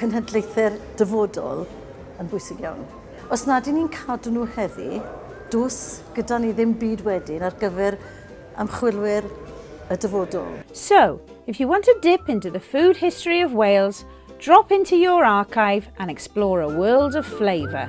cenhedlaethau'r dyfodol yn bwysig iawn. Os nad y'n ni'n cadw nhw heddi, does gyda ni ddim byd wedyn ar gyfer ymchwilwyr y dyfodol. So, if you want to dip into the food history of Wales, drop into your archive and explore a world of flavour.